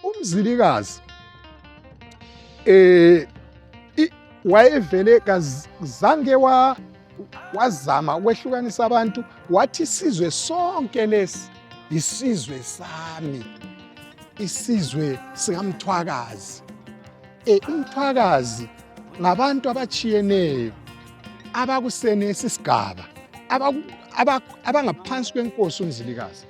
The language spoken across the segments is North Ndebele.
umzilikazi eh wayevele kazange wa wazama ukwehlukanisa abantu wathi isizwe sonke lesi isizwe sami isizwe sikamthwakazi e umthwakazi ngabantu abatshiyeneyo abakusenesi sigaba abangaphansi kwenkosi umzilikazi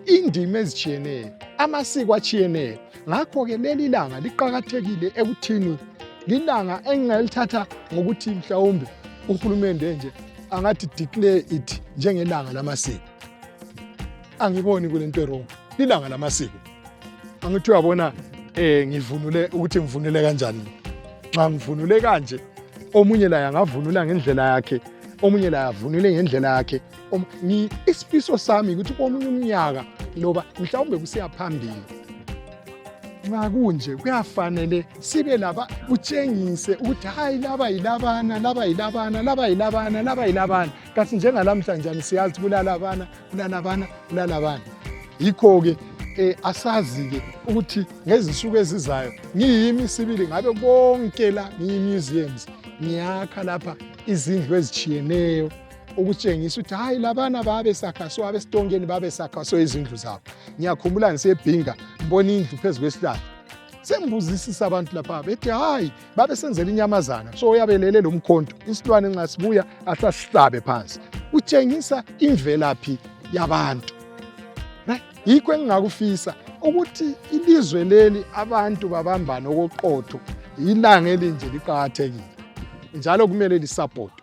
indima ezitshiyeneyo amasiko atshiyeneyo ngakho-ke leli langa liqakathekile ekuthini lilanga engingalithatha ngokuthi mhlawumbe uhulumende nje angathi declare it njengelanga lamasiko angiboni kule nto erong lilanga lamasiko angithi uyabona um ngivunule ukuthi ngivunule kanjani nxa ngivunule kanje omunye laye angavunula ngendlela yakhe omunye laye avunule ngendlela yakhe Um, isifiso sami ukuthi komunye umnyaka loba mhlawumbe kusiya phambili nxa kunje kuyafanele sibe laba kutshengise ukuthi hayi laba yilabana laba yilabana laba yilabana laba yilabana kasi njengalamhlanjani siyazi kulalabana kulalabana kulalabana yikho-ke um asazi-ke ukuthi ngezinsuku ezizayo ngiyimi sibili ngabe konke la ngiyi-museums ngiyakha lapha izindlu ezitshiyeneyo ukutshengisa ukuthi hayi labana babesakha so abesitongeni babesakha so izindlu zabo ngiyakhumbula ngisebhinga ngibona indlu phezu kwesihlahla sengibuzisisa abantu lapha bethi hayi babesenzela inyamazana so uyabelele lo mkhonto isilwane nxa sibuya ahle asihlabe phansi utshengisa imvelaphi yabantu yikho engingakufisa ukuthi ilizwe leli abantu babambane okoqotho yilanga elinje liqakathekile njalo kumele lisapotwe